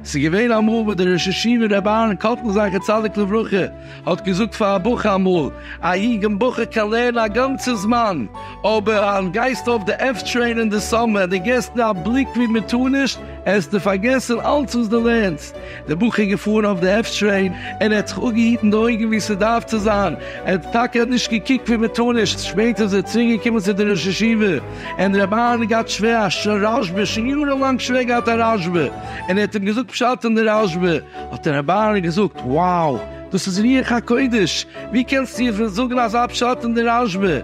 ס'איז געווען אמאל וואס דער ראש ישיבה רבי אהרן קאטלער זכר צדיק לברכה האט געזאגט פאר א בחור אמאל, א יונגן בחור קען לערנען א גאנצע זמן, אבער אז גייסט אויף די עף טרעין אין די סאממער און די געסט נישט א בליק ווי מען טאר נישט, עסטו פארגעסן אלץ וואס די לערנסט. דער בחור איז געפארן אויף די עף טרעין און ער האט זיך אפגעהיטן די אויגן ווי ס'דארף צו זיין, ער האט טאקע נישט געקוקט ווי מען טאר נישט, שפעטער איז ער צוריק געקומען צו די ראש ישיבה און דער רבי אהרן געהאט שווער א ש ר רש ב, שוין יארן לאנג שווער געהאט א רש ב, און ער האט אים געזאגט פשט אין די רש ב, האט דער רבי אהרן געזאגט wow דאס איז רוח הקודש, ווי קענסטו איר פון זאגן אזא פשט אין די רש ב?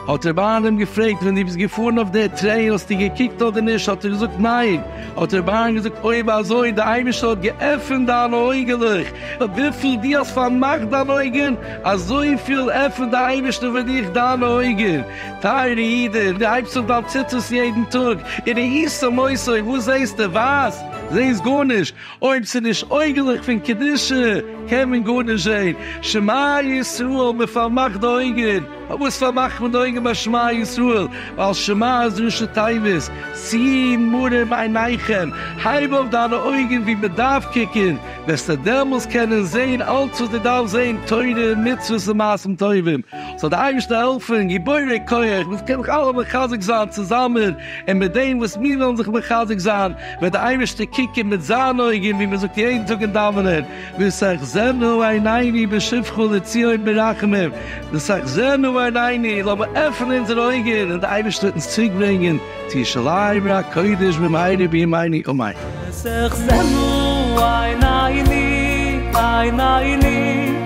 האט ער ביי איינעם געפרעגט ווען דו ביסט געפארן אויף די טרעיל האסטו געקוקט אדער נישט האט ער געזאגט ניין, האט ער ביי איינעם געזאגט אויב אזוי די אייבערשטער האט געעפענט דיינע אויגעלעך, וויפיל דו האסט פארמאכט דיינע אויגען אזויפיל עפענט די אייבערשטער פאר דיך דיינע אויגען, טייערע אידען דו הייבסט אויף דיין ציצית יעדן טאג און ראיסט צו מוסר וואס זעהסטו ווייז זעהסט גארנישט, אויב ס'איז נישט אויגעלעך פון קדושה קען מען גארנישט זעהן, שמע ישראל מען פארמאכט די אויגען, פארוואס פארמאכט מען די אויגען ביי שמע ישראל? ווייל שמע איז ראשי תיבות שאי מרום עיניכם, הייב אויף דיינע אויגען ווי מען דארף קוקען, וועסטו דעמאלס קענען זעהן אלץ וואס דו דארפסט זעהן תורה און מצוות און מעשים טובים, זאל דיר אייבערשטער העלפען גיבורי כח, מיר זאלן זיך קענען אלע מחזק זיין צוזאמען, און מיט דעם וואס מיר וועלן זיך מחזק זיין, וועט דער אייבערשטער קוקן מיט זיין אויגן, ווי מען זאגט יעדן טאג אין דאווענען, ותחזינה עינינו בשובך לציון ברחמים, ותחזינה עינינו, לאמיר עפענען אונזערע אויגן און דער אייבערשטער וועט אונז צוריק ברענגען צו ירושלים עיר הקודש במהרה בימינו אמן. ותחזינה עינינו עינינו.